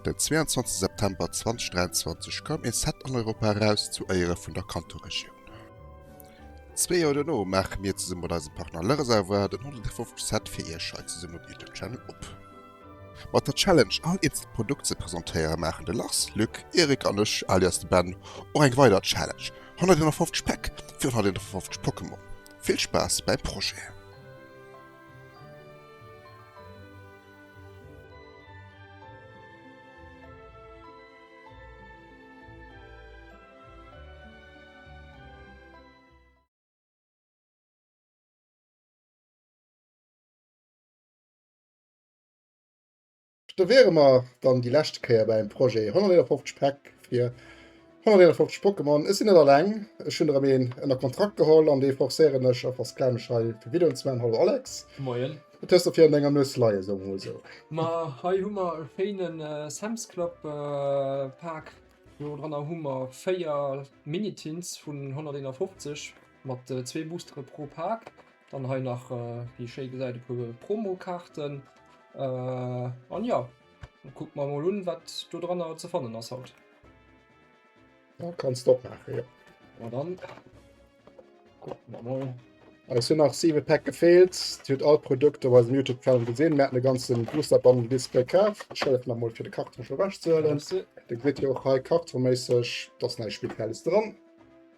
Den 22 September 2023 koum ee Set an Europa eraus zu Éiere vun der Kanto-Regioun. Zwee Joer dono maache mir zesumme mat eisem Partner Lereservoir den 150. Set fir iech hei zesumme op YouTube Channel op. Mat der Challenge all eenzel Produkt ze presentéieren maachen de Lars, Luc, Eric an ech, alias de Ben, och eng weider Challenge, 151 Päck fir 151 Pokémon. Vill Spaass beim Projet! Do wäre mer dann déi lescht Kéier beim Projet 151 Päck fir 151 Pokémon. Ech sinn net alleng, ech hunn erëm een ënner Kontrakt geholl an dee forcéieren ech a versklaven ech hei fir Videoen ze maachen. Hallo Alex. Moien. Wat hues de fir an denger Nues leien, soe mer mol esou? Ma hei hu mer e schéine Sam's Club Pak. Do dranner hu mer 4 Mini-Tins vun 151 mat zwee Boostere pro Pak. Dann hei nach äh, wie schéi gesäit e puer Promokarten. Äh, an ja, guck mal mal un, wat do dran ze fannen ass haut. Ja, kannst doch machen, ja. Na dann. Guck mal mal. Es hun nach 7 Pack gefehlt. Huet all Produkte bei dem YouTube Channel gesinn. Mä den ganzen Booster Bundle Display kaf. Schëllef nach mal fir de Karton schon wäschzuhöhlen. Da gëtt jo och hei kartonmäßig, dass näi Spielfäles dran.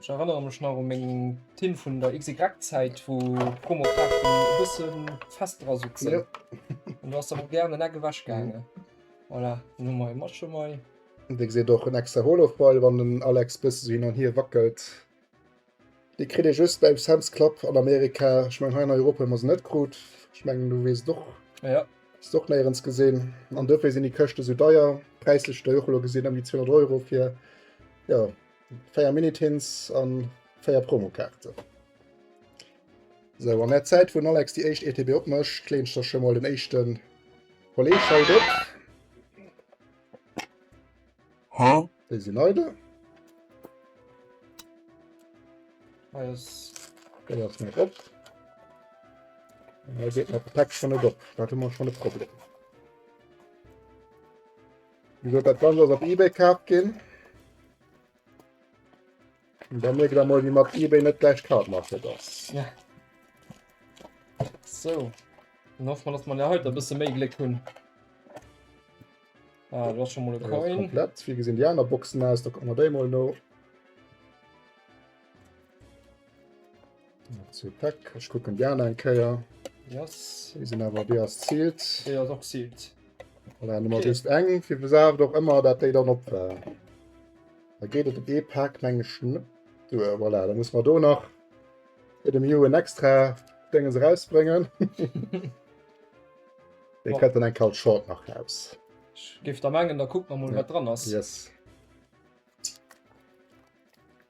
Ech erënnere mech nach u meng Tint vun der XY-Zäit, wou d'Chromokraften e bësse fest dra soutzen. Ja. An do ass der mol gär an den Eck ewech gaangen. Voilà, dann hu mer e Match emei. An dee gesäit och en extra Holof-Ball, wann den Alex bësse sou hin an hier wackelt. Déi kritt ee just bei Sam's Club an Amerika. Ech mengen, hei an Europa hu mer se net krut. Ech mengen, du weess et och. Ja. Hues de och néierens gesinn. An dofir sinn déi Këschte sou deier. Präislech hutt Der jo och elo gesinn, ëm déi 200 Euro fir, jo, 4 Minitins an 4 Promokaarte. So an der Zäit vun Alex die echt ETB opmëscht, kleint der schon mal den echten Kolleg haut op. Ha? Déi sinn eidel. Déi ass net op. Hei geet mat Pack schon net op. Dat hu mer schon e Problem. Wéi gesot, dat Ganzt ass op eBay kaaft ginn. An da mierkt Der mol, wéi mat eBay net gläich d'Kart mat fir d'Ass. Sou. Dann hoffe mer, dass mer haut e bësse méi Gléck hunn. Ah, do ass scho mol e Coin. Wéi gesinn déi aner Boxen aus? Da kucke mer déi mol no. Zu Pack. Ech kucken Di aner eng Kéier. Yes. Déi sinn awer déi ass ziilt. Déi ass och ziilt. Voilà, Nummer okay. just eng. Fir besaaft och ëmmer, dat déi dann op war. Da geet et op ee Pack menge Schn. Du, äh, voilà, da muss man do nach fir dem Ju en extra Dénge se rausbréngen. Dei kët dann eng kal Short nach aus. Gift der mengen, da kuck man mol ja. wat dran ass. Yes.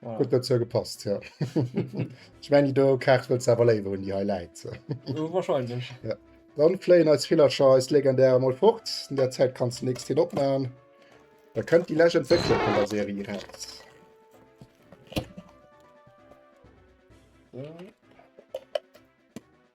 Voilà. Huet net zou gepasst ja. Ech mengen déi do Kaart wëlls de awer léiwer hunn, déi hei läit. Äh, wahrscheinlech. Ja. Dann fléien eis Villercher, eis Legendäre mol fort. In der Zäit kanns de nächst hien opmachen. Da kënnt déi Legend wéckle vun der Serie raus. So.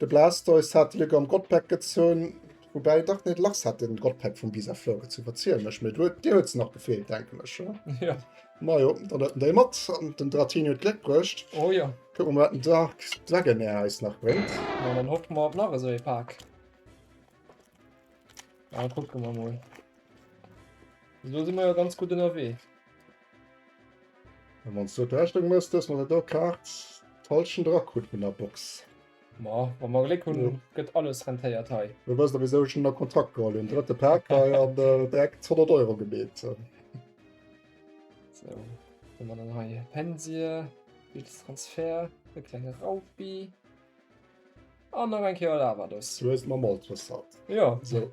De Blastoise hat Lück am Godpack gezunn, woubäi dach net lass hat den Godpack vum Bisaflor gezunn, verziel mech, mee du dir huet se nach gefeelt denken ech oder? Ja. Majo, dann huet en déi mat an den Dratini huet Gléck bruecht. Oh jo. Kuck mer wat den Dark Dragonair eis nach bréngt. Ma dann hoffe mer op nach esou ee Pak. Ah, kucke mer mol. Elo si mer jo ganz gutt ënnerwee. An wanns du d'Rechnung mëss, dëss mer se do Kaart d'Halschent era krut vun der Box. Ma wa mer Gléck hun, gëtt alles rentéiert hei. Du wëss da wisou ech nun a Kontakt geholl hun, drëtte Pack hei an direkt 100 Euro gebeet. Sou, hun mer dann hei Pensie, Bills Transfer, e klenge Raupi. An nach eng Kéier Lava dës. Du hues mer mol trëssert. Jo. So.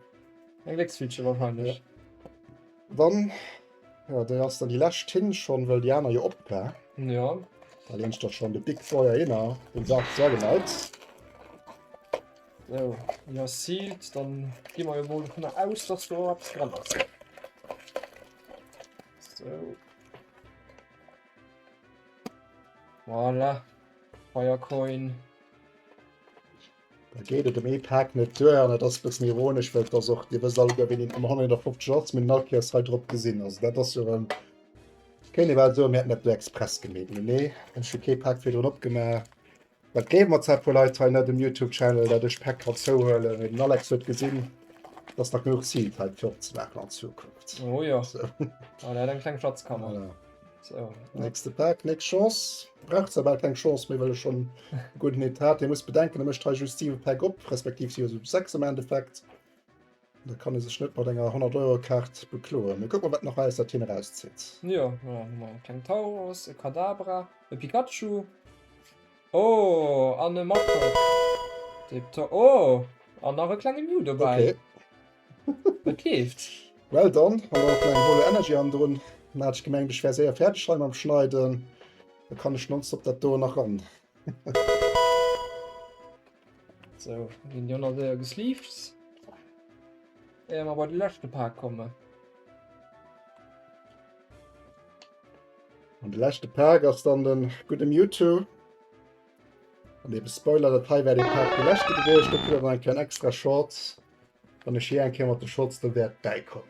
Eng Glécksfiidsche wahrscheinlech. Dann, ja, déi ass dann déi lescht Tinge schonn, well déi aner jo op war. Ja. Da leen ech der schonn de Big Boy ahinner, den Saak zwar geneigt. So, déi ass sealed. Dann gi mer jo mol dovun aus, dass do eppes dran ass. So. Voilà. Firecoin. Da geet et um ee Pak net duer an et ass bëssen ironesch, well ass och Dir wësst alleguer wéini ëmmer 150 Lotz minn Nalkiers hei drop gesinn. Also dat ass jo erëm kéint ee bal soen, mir hätten dat do express gemeet. Mee nee, ech hu kee Pak virdrun opgemaach. Dat gleewe mer zwar e puer Leit hei net um Youtube Channel, dat ech Päck kann zouhuelen, mee den Alex huet gesinn, dass nach genuch Zil fält flott ze maachen an Zukunft. Oh jo, oh der huet eng kleng Schatzkammer. Voilà. So. Nächste Päck, nächst Chance. Braucht zwar bal keng Chance méi, well ech schonn e gudden Hit hat. Dir musst bedenken, e mécht hei just 7 Päck op, respektiv si ass um 6 am Endeffekt. Da kann e sech net mat enger 100 Euro Kaart bekloen. Mir kucken wat nach aus dat hien erauszitt. Jo jo hu mer e kleng Tauros, e Kadabra, e Pikachu, oh an e Machop, dee beton, oh an nach e klenge Mew dobäi. Okay. Et leeft. Well dann hu mer nach eng Holo Energy an drun. Mä hat ech gemengt ech wär séier fäerdeg hei mam Schneiden, da kann ech nonstop dat do nach ran. So, gin déi anner Déier gesleeved. Éier mer bei de leschte Paak kommen. An de leschte Paak ass dann den gudde Mewtwo. An eben Spoiler, dat hei wär dee Paak dee leschte gewiescht. Do kritt der dann eng kleng extra Chance, wann ech hei eng Kéier mat de Shots do wäert bäikommen.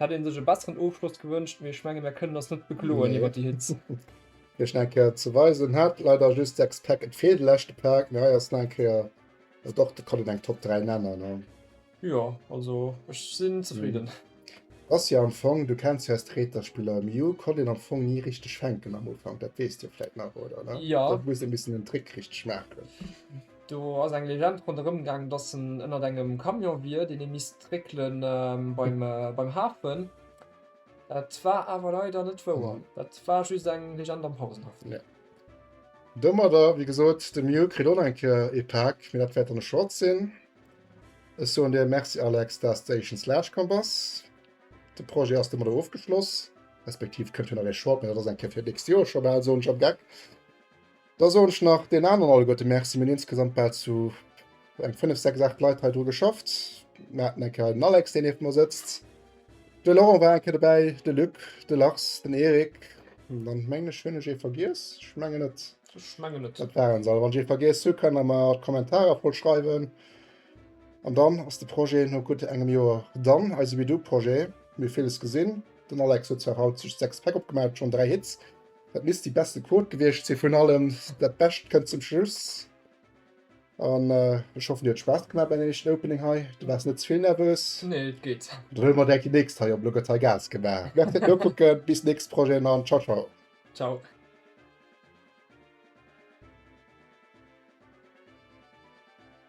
Hätt een sech e besseren Ofschloss gewënscht, mee ech menge mir kënnen ass net bekloen iwwer déi Hitz. Fir schnell Kéier ze weisen hat leider just 6 Pack et feelt de leschte Pack, mee hei ass nei Kéier et och de kann een eng Top 3 nennen an. Jo also ech sinn zefridden. Ass jo am Fong du kenns jo eis Treter Spiller Miu konnt een am Fong ni richteg fänken am Ufank dat weess dir vläit nach oder? Jo. Dat muss een e bëssen den Trick richteg maachen. Do ass eng Legend ronderëm gaang, dass en ënnert engem Camion wier, deen ee misst réckele beim Hafen. Dat war awer leider net wouer. Dat war just eng Legend am Pausenhaff. Ja. Domadder, wéi gesot, de Mew kritt och nach eng Kéier ee Pak, mee dat wäert dann e Short sinn. Ech soen dir Merci, Alex, dass de éischtens laanscht komm bass. De Projet ass domadder ofgeschloss. Respektiv kënnt jo nach ee Short, mee dat ass eng Kéier fir d'nächst Joer scho bal, soen ech am Geck. Da soen ech nach den aneren alleguerte Merci. Mir hunn insgesamt bal zu eng 5, 6, 8 Leit hei dru geschafft. Mir haten eng Kéier den Alex, deen nieft mer sëtzt. De Laurent war eng Kéier dobäi, de Luc, de Lars, den Erik. An dann mengen ech, hunn ech ee vergiess? Ech mengen net. Ech mengen net. Dat waren se all. Wann ech ee vergiess hu, kann der mer an d'Kommentarer voll schreiwen. An dann ass de Projet no gutt engem Joer dann, eise We Do Projet. Mir hu villes gesinn. Den Alex huet zwar haut just 6 Päck opgemaach, et schonn 3 Hits. Dat misst déi beste Quote gewiescht sinn. Vun allem dat Bescht kënnt zum Schluss. An äh, ech hoffen dir huet Spaß gemacht beim éischten Opening hei. Du waars net zevill nervös? Nee, et geet. Dann huele mer direkt déi nächst hei op. Elo gëtt hei Gas gemaach. Merci fir d'Nokucken. Bis nächst Projeten an ciao ciao. Ciao.